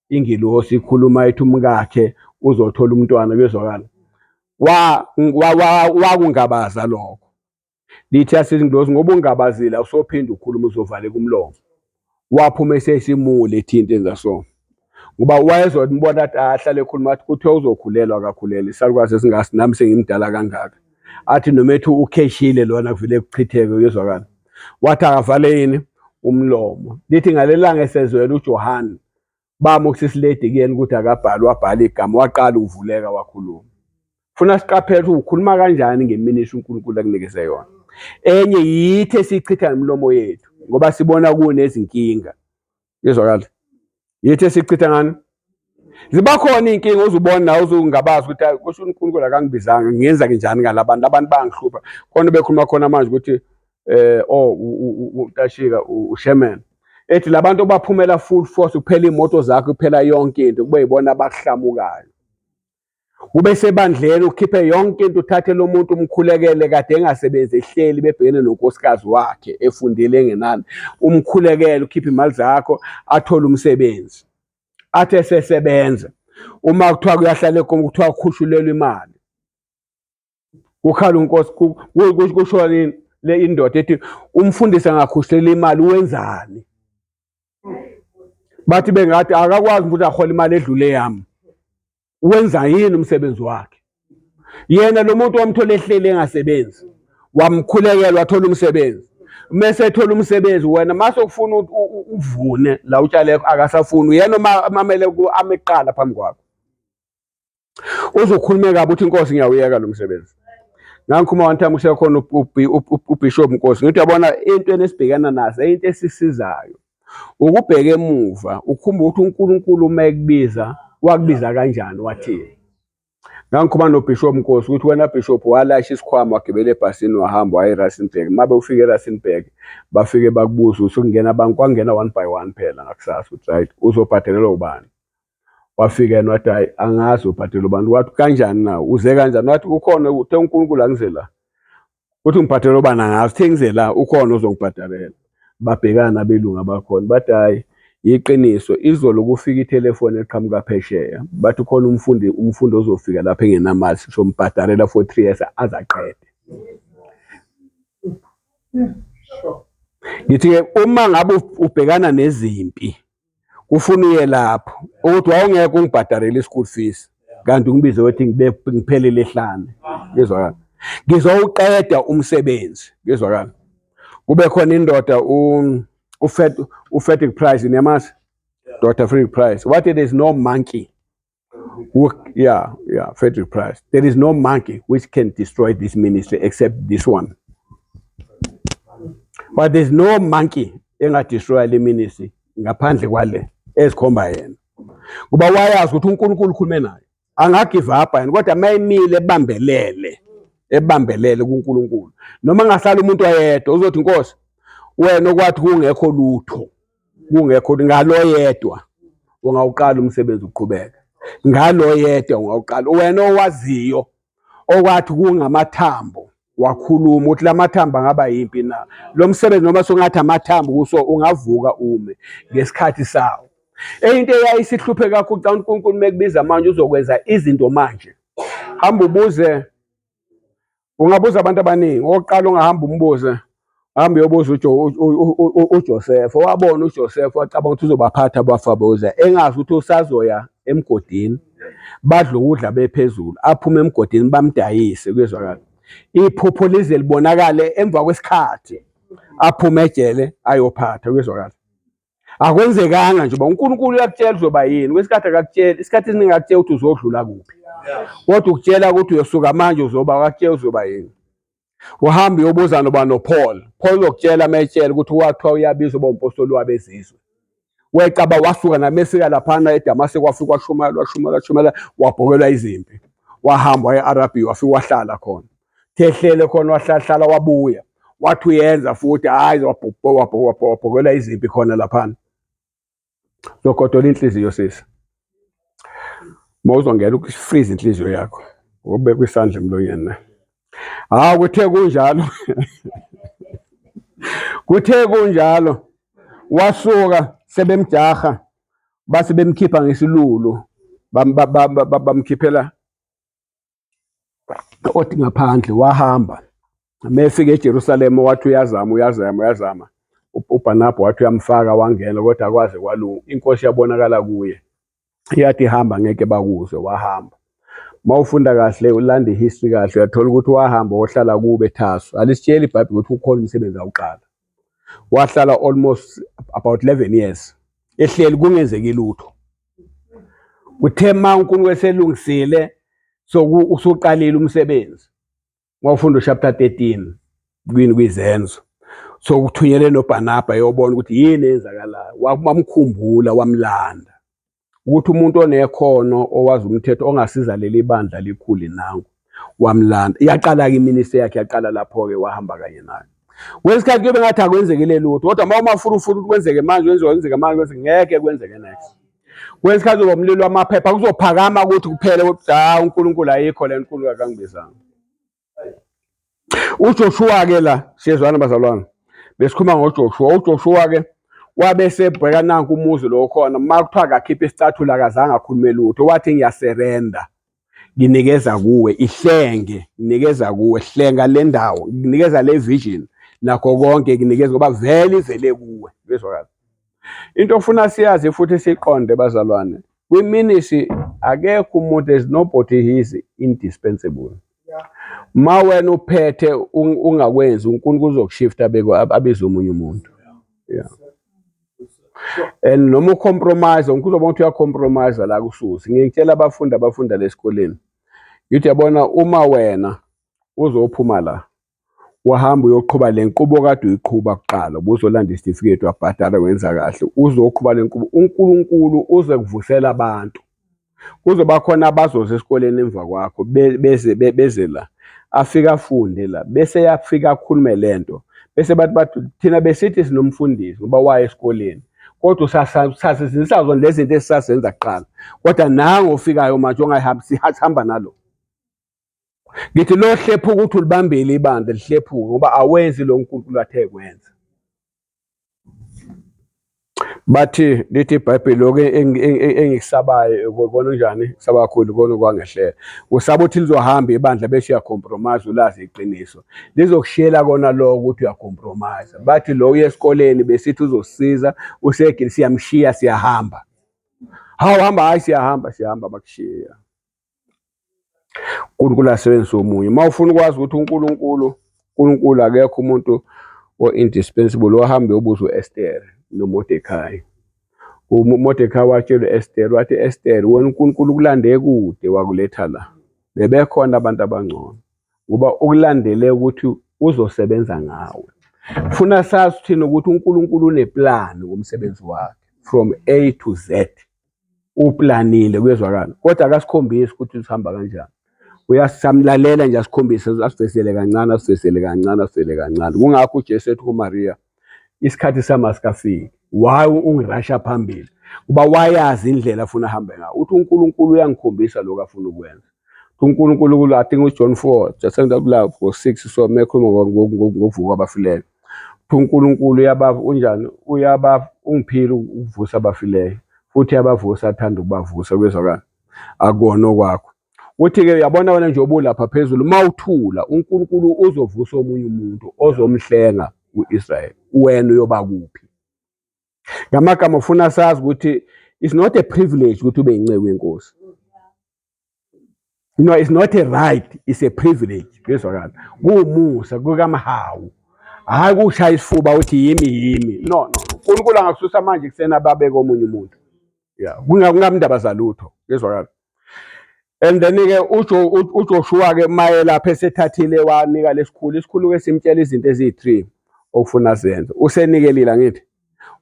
ingilosi ikhuluma ethi umkakhe uzothola umntwana kuyezwakala wakungabaza lokho lithi asezingilosi ngoba ungabazile awusophinde ukhuluma uzovaleka umlomo waphuma esesimule ethinta enza so ngoba wayezombona ahlale ekhuluma athi kuthiwa uzokhulelwa akakhulele isalukazi esingazi nami sengimdala kangaka athi noma ethi ukheshile lona kuvele kuchitheke uyezwakala wathi akavale yini umlomo lithi ngalelanga esezwela uJohane bami usisiledi kuyena ukuthi akabhali wabhala igama waqala ukuvuleka wakhuluma funa siqaphele ukuthi ukhuluma kanjani ngeminiso uNkulunkulu akunikeze yona enye yithi esichitha ngemilomo yethu ngoba sibona kunezinkinga Izwakala. Yithi esichitha ngani? Ziba khona iy'nkinga uzubona nawe uzungabazi ukuthi hayi kusho uNkulunkulu akangibizanga ngenza njani ngalabantu abantu bangihlupha khona bekhuluma khona manje ukuthi eh oh uTashika uSherman ethi labantu baphumela full force kuphela imoto zakhe kuphela yonke into kube yibona abahlamukayo ube sebandleni ukhiphe yonke into uthathe lo muntu umkhulekele kade engasebenzi ehleli bebhekene nonkosikazi wakhe efundile engenani umkhulekele ukhiphe imali zakho athole umsebenzi athi esesebenza uma kuthiwa kuyahlala egomo kuthiwa ukhushulelwa imali kukhala unkosi kusho nini le indoda ethi umfundisi angakhushela imali wenzani bathi bengathi akakwazi ukuthi ahole imali edlule yami wenza yini umsebenzi wakhe yena lo muntu wamthola ehleli engasebenzi wamkhulekela wathola umsebenzi mese ethola umsebenzi wena mase ufuna uvune la utshale akasafuni yena uma amele ameqala phambi kwakho uzokhulumeka kabi uthi inkosi ngiyawuyeka lo msebenzi ngangikhuluma one time usekhona ubishop nkosi ngithi yabona into enesibhekana nazo into esisizayo ukubheka emuva ukhumba ukuthi uNkulunkulu uma ekubiza wakubiza kanjani wathini ngangikhuluma nobishop nkosi ukuthi wena bishop walasha isikhwama wagibela ebhasini wahamba waya eRustenburg uma bewufika eRustenburg bafike bakubuza ukuthi kungena abantu kwangena one by one phela ngakusasa ukuthi right uzobhadelelwa ubani wafika yena wathi hayi angazi ubhadela ubani wathi kanjani na uze kanjani wathi ukhona uthe unkulunkulu angize la uthi ngibhadela ubani angazi uthe ngize la ukhona ozongibhadalela babhekana abelungu abakhona bathi hayi yiqiniso izolo kufika itelefoni eqhamuka phesheya bathi khona umfundi umfundi ozofika lapha engenamali sizombhadalela for three years azaqede ngithi-ke uma ngabe ubhekana nezimpi kufuna uye lapho ukuthi wawungeke ungibhadarele i-school fees kanti ungibize wethi ngiphelele ehlane ngizwakala ngizowuqeda umsebenzi ngizwakala kube khona indoda ufetic price niyamazi dr frederick price wathi there is no monkey yeah, yeah, Frederick Price. There is no monkey which can destroy this ministry except this one. But there's no monkey engadestroya le ministry ngaphandle kwale ezikhomba yena. Kuba wayazi ukuthi uNkulunkulu ukhulume naye. Angagive up yena kodwa mayimile ebambelele ebambelele kuNkulunkulu. Noma ngahlala umuntu ayedwa uzothi inkosi wena okwathi kungekho lutho. kungekho ukuthi ngaloyedwa ungawuqala umsebenzi uqhubeke ngaloyedwa ungawuqala wena owaziyo okwathi kungamathambo wakhuluma ukuthi lamathambo angaba yimpi na lo msebenzi noma songathi amathambo kuso ungavuka ume ngesikhathi sawo eyinto eyayisihluphe kakhulu xa uNkulunkulu mekubiza manje uzokwenza izinto manje hamba ubuze ungabuza abantu abaningi okokuqala ungahamba umbuze hamba uyobuza uJoseph owabona uJoseph wacabanga ukuthi uzobaphatha abafaboza engazi ukuthi usazoya emgodini badla ukudla bephezulu aphume emgodini bamdayise kuyezwakala iphupho lize libonakale emva kwesikhathi aphume ejele ayophatha kuyezwakala akwenzekanga nje uba unkulunkulu uyakutshela uzoba yini kwesikhathi akakutshela isikhathi esiningi akutshela ukuthi uzodlula kuphi kodwa ukutshela ukuthi uyosuka manje uzoba akakutshela uzoba yini uhamba uyobuza noba nopaul paul uzokutshela uma etshela ukuthi wathiwa uyabiza uba umpostoli wabezizwe wecaba wasuka namesika laphana edamase kwafika washumala washumala washumala wabhokelwa izimpi wahamba waye-arabiya wafika wahlala khona thehlele khona wahlahlala wabuya wathi uyenza futhi hayi wabhokela izimpi khona laphana zogodola inhliziyo sisi mawuzongena ukufriza inhliziyo yakho ubeka isandla emlonyeni na hawu kuthe kunjalo kuthe kunjalo wasuka sebemjaha base bemkhipha ngesilulu bamkhiphela othi ngaphandle wahamba mefika eJerusalema wathi uyazama uyazama uyazama uBhanabha wathi uyamfaka wangena kodwa kwaze kwalunga inkosi yabonakala kuye yathi hamba ngeke bakuzwe wahamba mawufunda kahle ulanda ihistory kahle uyathola ukuthi wahamba wohlala kube thaso alisitsheli ibhayibheli ukuthi ukhona umsebenzi awuqala wahlala almost about 11 years ehleli kungenzeki lutho kuthe ma uNkulunkulu eselungisile so usuqalile umsebenzi mawufunda uchapter 13 kwini kwizenzo so kuthunyele noBarnaba yobona ukuthi yini eyenzakalayo wamkhumbula wamlanda ukuthi umuntu onekhono owazi umthetho ongasiza leli bandla likhuli nangu wamlanda iyaqala-ke iminista yakhe yaqala lapho-ke wahamba kanye nayo kwesikhathi kuyobe ngathi akwenzekile lutho kodwa uma umafurufuru ukuthi kwenzeke manje kwenziwa kwenzeke manje kwenzeke ngeke kwenzeke next kwesikhathi uzoba umlilo wamaphepha kuzophakama ukuthi kuphele kodwa unkulunkulu ayikho le nkulu kakangibizanga uJoshua-ke la siyezwana bazalwane besikhuluma ngoJoshua uJoshua-ke wabe sebheka nanku umuzi lo khona uma kuthiwa akakhiphe isicathulo akazange akhulume lutho wathi ngiyaserenda nginikeza kuwe ihlenge nginikeza kuwe hlenga le ndawo nginikeza le vision nakho konke nginikeza ngoba vele ivele kuwe bezwakala Into ofuna siyazi futhi siqonde bazalwane, kwiMinisi akekho umuntu as nobody he is indispensable. Ma wena uphethe ungakwenzi uNkulunkulu uzokushifta beko abize omunye umuntu. Yeah. And noma ucompromise uNkulunkulu uzoba ukuthi uyacompromise la kususi. Ngiyitshela abafundi abafunda lesikoleni. Ngithi yabona uma wena uzophuma la Wahamba uyoqhuba le nqubo kade uyiqhuba kuqala ubuzolanda isitifiketi wabhadala wenza kahle uzoqhuba le nqubo uNkulunkulu uze kuvusela abantu kuzoba khona abazoza esikoleni emva kwakho beze beze la afike afunde la bese yafika akhulume le nto bese bathi bathi thina besithi sinomfundisi ngoba waye esikoleni kodwa usasazinisa zona lezi zinto esisazenza kuqala kodwa nango ofikayo manje ongayihambisi hamba nalo Ngithi lohlephuka ukuthi ulibambile ibandla lihlephuke ngoba awenzi lo nkulunkulu athe kwenza bathi lithi ibhayibheli lokhu engikusabayo kona njani kusaba kakhulu kona kwangehlela usaba ukuthi lizohamba ibandla bese uyacompromise ulazi iqiniso lizokushiyela kona lokho ukuthi uyacompromise bathi lo uye esikoleni besithi uzosiza usegili siyamshiya siyahamba hawu hamba hayi siyahamba siyahamba bakushiya uNkulunkulu asebenzise omunye uma ufuna ukwazi ukuthi uNkulunkulu uNkulunkulu akekho umuntu o-indispensable ohambe ubuza u-estere nomodekhayi umodekhayi watshela u-estere wathi estere wena unkulunkulu ukulande kude wakuletha la bebekhona abantu abangcono ngoba ukulandele ukuthi uzosebenza ngawe funa sazi thina ukuthi unkulunkulu uneplani ngomsebenzi wakhe from a to z uplanile kuyezwakala kodwa akasikhombisi ukuthi usihamba kanjani uyasamlalela nje asikhombise asivesele kancane asivesele kancane asivele kancane kungakho uJesu ethi kuMaria isikhathi sami asikafiki why ungirasha phambili kuba wayazi indlela afuna ahambe ngayo uthi uNkulunkulu uyangikhombisa lokho afuna ukwenza uNkulunkulu I think uJohn 4 just end up la go 6 so mekhuluma ngokuvuka kwabafileyo kuthiwa uNkulunkulu uyabava unjani uyabava ungiphile ukuvusa abafileyo futhi yabavusa athanda ukubavusa kwezwakala akona okwakho uthi-ke uyabona wena nje obulapha phezulu uma uthula unkulunkulu uzovusa omunye umuntu ozomhlenga u-israyeli wena uyoba kuphi ngamagama ufuna sazi ukuthi it's not a privilege ukuthi ube yinceku yenkosi you know it's not a right it's a privilege kuyezwakala kuwumusa kukamhawu hayi kushaya isifuba uthi yimi yimi no no uNkulunkulu angakususa manje kusena babeke omunye umuntu ya kungamndaba zalutho kuyezwakala and then ke ujo uJoshua ke maye lapha esethathile wanika lesikhulu isikhulu ke simtshela izinto eziyi3 okufuna zenze usenikelile ngithi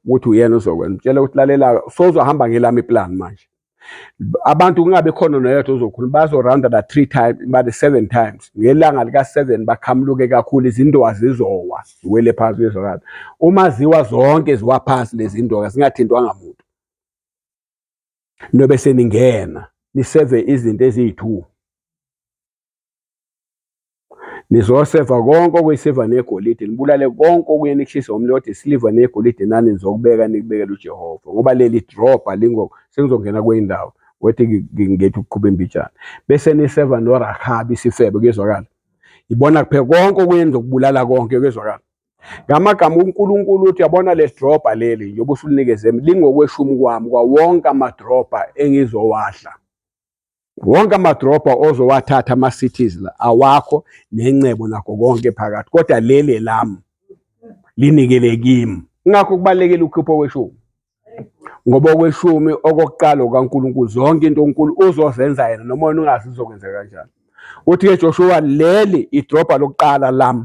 ukuthi uyena uzokwenza mtshela ukuthi lalela sozohamba ngelami plan manje abantu kungabe khona noyedwa ozokhuluma bazorawunda la three times bade seven times ngelanga lika-seven bakhamuluke kakhulu izindoka zizowa ziwele phansi uyezwakala uma ziwa zonke ziwa phansi lezi ndoka zingathintwanga muntu nobe seningena niseve izinto eziyi-two Nizosefa konke okuyisiliva negolide, nibulale konke okuye nikushise umlilo, kodwa isiliva negolide nani nizokubeka nikubekele uJehova, ngoba leli drobha lingoko, sengizongena kwenye indawo wethi ngethi ukuqhuba imbijana, bese niseva noRahabi isifebe, kuyezwakala? Yibona kuphela konke okunye nizokubulala konke, kuyezwakala? Ngamagama uNkulunkulu uthi yabona leli drobha leli njengoba usulinikeze lingokweShumi kwami kwawonke amadrobha engizowadla. wonke amadrobha ozowathatha ama-cities la awakho nencebo nakho konke phakathi kodwa leli elami linikele kimi ngakho kubalekela ukhipha okweshumi ngoba okweshumi okokuqala okaNkulunkulu zonke into uNkulu uzozenza yena noma wena ungazi uzokwenzeka kanjani uthi ke Joshua leli idrobha lokuqala lami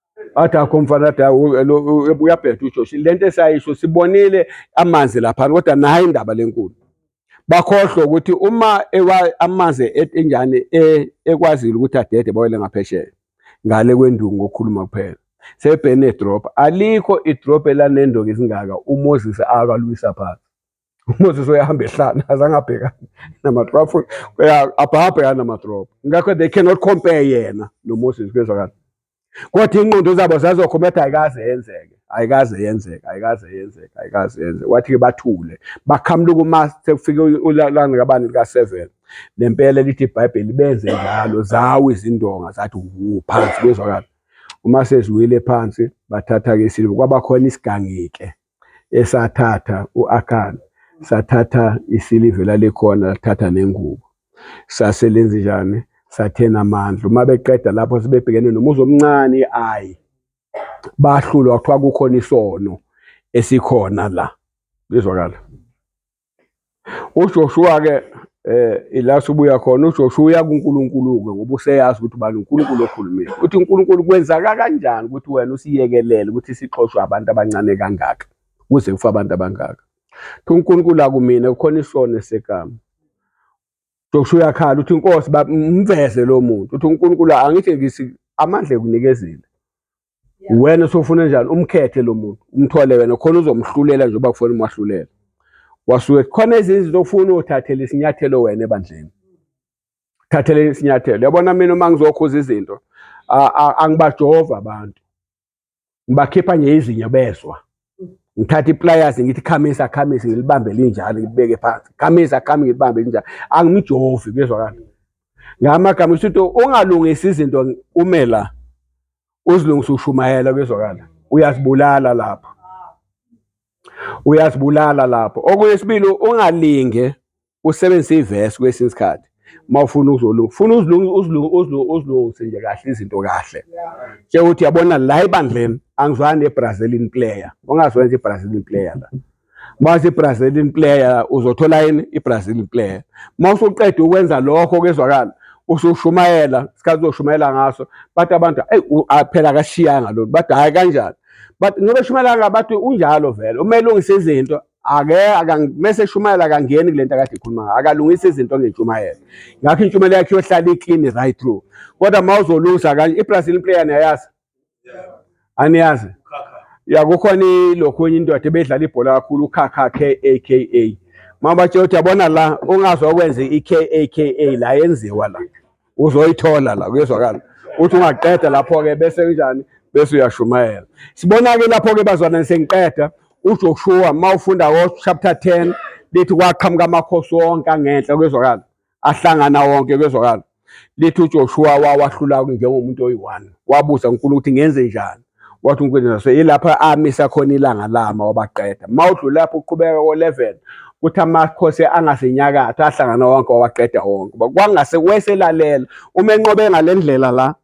athi akho mfana athi uyabheda uJosh le nto esayisho sibonile amanzi laphana kodwa nayo indaba lenkulu bakhohlwe ukuthi uma amanzi e, enjani e, ekwazile ukuthi adede bawele ngaphesheya ngale kwendungu ngokukhuluma kuphela sebhene drop alikho idrop elanendongo ezingaka umoses akalwisa phansi uMoses uyahamba ehlana azange abhekane namadrop abhabhekane namadrop ngakho they cannot compare yena noMoses kuyezwakala kodwa iy'nqondo zabo zazokhoma ethi ayikaze yenzeke ayikaze yenzeke ayikaze yenzeke ayikaze yenzeke wathi-ke bathule bakhamluka uma sekufike ulanga kabani lika-seven nempela lithi ibhayibheli benze njalo zawo izindonga zathi wu phansi kuyezwakala uma seziwile phansi bathatha-ke isiliva kwabakhona isigangike esathatha u-Akan sathatha isilive lalikhona lathatha nengubo sase lenze njani sathena amandla uma beqeda lapho sebebhekene nomuzi omncane i-ayi bahlulwa kuthiwa kukhona isono esikhona la lizwakala UJoshuwa-ke eh ila subuya khona uJoshuwa uya kuNkulunkulu-ke ngoba useyazi ukuthi ubani uNkulunkulu okhulumile ukuthi uNkulunkulu kwenzaka kanjani ukuthi wena usiyekelele ukuthi sixoshwe abantu abancane kangaka kuze kufa abantu abangaka thi uNkulunkulu akumina kukhona isono esekama Joshua uyakhala uthi inkosi bamveze lo muntu uthi uNkulunkulu angithi ngisi amandla ekunikeza wena sofuna njani umkhethe lo muntu umthole wena khona uzomhlulela nje uba kufona umwahlulela wasuke khona ezinye izinto ofuna uthathele isinyathelo wena ebandleni thathele isinyathelo yabona mina uma ngizokhuza izinto angibajova abantu ngibakhipha nje izinyo bezwa ngithathe iplayasi ngithi khamisa khamisa ngilibambe linjalo ngibeke phansi khamisa khami ngilibambe linjalo angimujovi kuyezwakala ngamagama usuthi ungalungisa izinto ume la uzilungisa ushumayela kuyezwakala uyazibulala lapho uyazibulala lapho okunye sibili ungalinge usebenzise ivesi kwesinye isikhathi uma ufuna ukuzolunga funa uzilungise nje kahle izinto kahle njengokuthi yabona la ebandleni angizwani ne-brazilian player ungazwani nje i-brazilian player la mase Brazilian player uzothola yini iBrazilian player mase uqeda ukwenza lokho kezwakala usushumayela isikhathi uzoshumayela ngaso bathi abantu hey aphela akashiyanga lo bathi hayi kanjani but ngoba shumayela ngabantu unjalo vele uma elungisa izinto ake akamese eshumayela akangeni kule nto akade ikhuluma ngayo akalungisa izinto ngentshumayelo ngakho intshumayelo yakhe iyohlala iclean right through kodwa uma uzolungisa kanje ibrazil player niyayazi aniyazi ya kukhona ilokhunye indoda ebedlala ibhola kakhulu ukhakha k a k a uma batshela ukuthi yabona la ungazwa okwenze i-k a k a la yenziwa la uzoyithola la kuyezwakala uthi ungaqeda lapho-ke bese kunjani bese uyashumayela sibona-ke lapho-ke bazalwane sengiqeda uJoshua uma ufunda ngochapter 10 lithi kwaqhamuka amakhosi wonke angenhla kwezwakala ahlangana wonke kwezwakala lithi uJoshua wawahlula njengomuntu oyi-one wabuza uNkulunkulu ukuthi ngenze njani wathi uNkwiza so yilapho amisa khona ilanga lama wabaqeda uma udlule lapho uqhubeka ko-11 kuthi amakhosi angasenyakatho ahlangana wonke wawaqeda wonke kwangase weselalela uma enqobe ngale ndlela la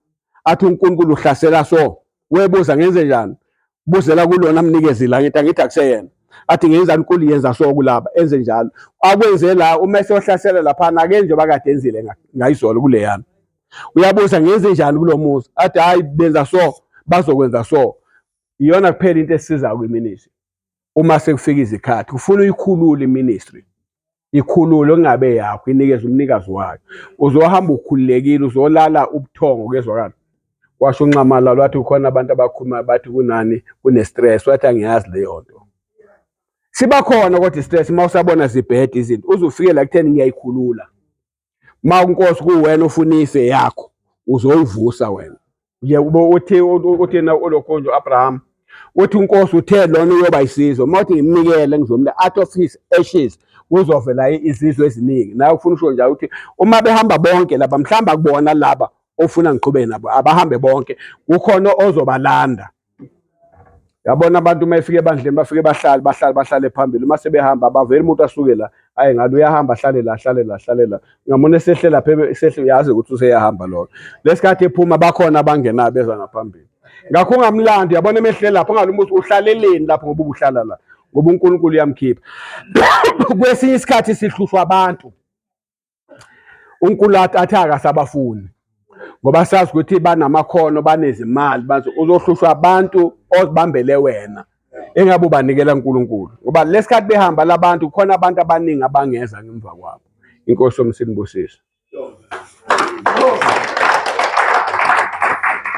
athi uNkulunkulu uhlasela so webuza ngenze njani buzela kulona mnikezi la ngithi angithi akuseyena athi ngenzani uNkulu yenza so kulaba enze njalo akwenze la uma esohlasela laphana akenje bakade enzile ngayizolo kuleyana uyabuza ngenze njani kulo muzi athi hayi benza so bazokwenza so iyona kuphela into esizayo kwiministry uma sekufika izikhathi kufuna uyikhulule iministry ikhululo kungabe yakho inikeza umnikazi wayo uzohamba ukhululekile uzolala ubuthongo kezwakala washo unxamala lwathi ukhona abantu abakhuluma bathi kunani kunestress wathi angiyazi leyo nto siba khona kodwa istress uma usabona zibhede izinto uzufike la kutheni ngiyayikhulula uma unkosi kuwena ufuna ife yakho uzoyivusa wena nje ube uthi uthi na ulokhonje uAbraham uthi unkosi uthe lona uyoba isizwe uma uthi ngimnikele ngizomnika out of his ashes kuzovela izizwe eziningi naye ufuna usho njalo ukuthi uma behamba bonke laba mhlawumbe akubona laba ofuna ngiqhubeke nabo abahambe bonke kukhona ozobalanda yabona abantu uma efika ebandleni bafike bahlale bahlale bahlale phambili uma sebehamba abaveli umuntu asuke la ayi ngabe uyahamba ahlale la ahlale la ahlale la ungamona esehle lapha esehle uyazi ukuthi useyahamba loyo lesikhathi ephuma bakhona abangenayo beza ngaphambili ngakho ungamlandi yabona emehle lapho ungalumuthi uhlaleleni lapho ngoba ubuhlala la ngoba uNkulunkulu uyamkhipha kwesinye isikhathi sihlushwa abantu uNkulata athi akasabafuni ngoba sazi ukuthi banamakhono banezimali bathi uzohlushwa abantu ozibambele wena engabe ubanikela uNkulunkulu ngoba lesikhathi behamba labantu khona abantu abaningi abangeza ngemva kwabo inkosi yomsinibusisa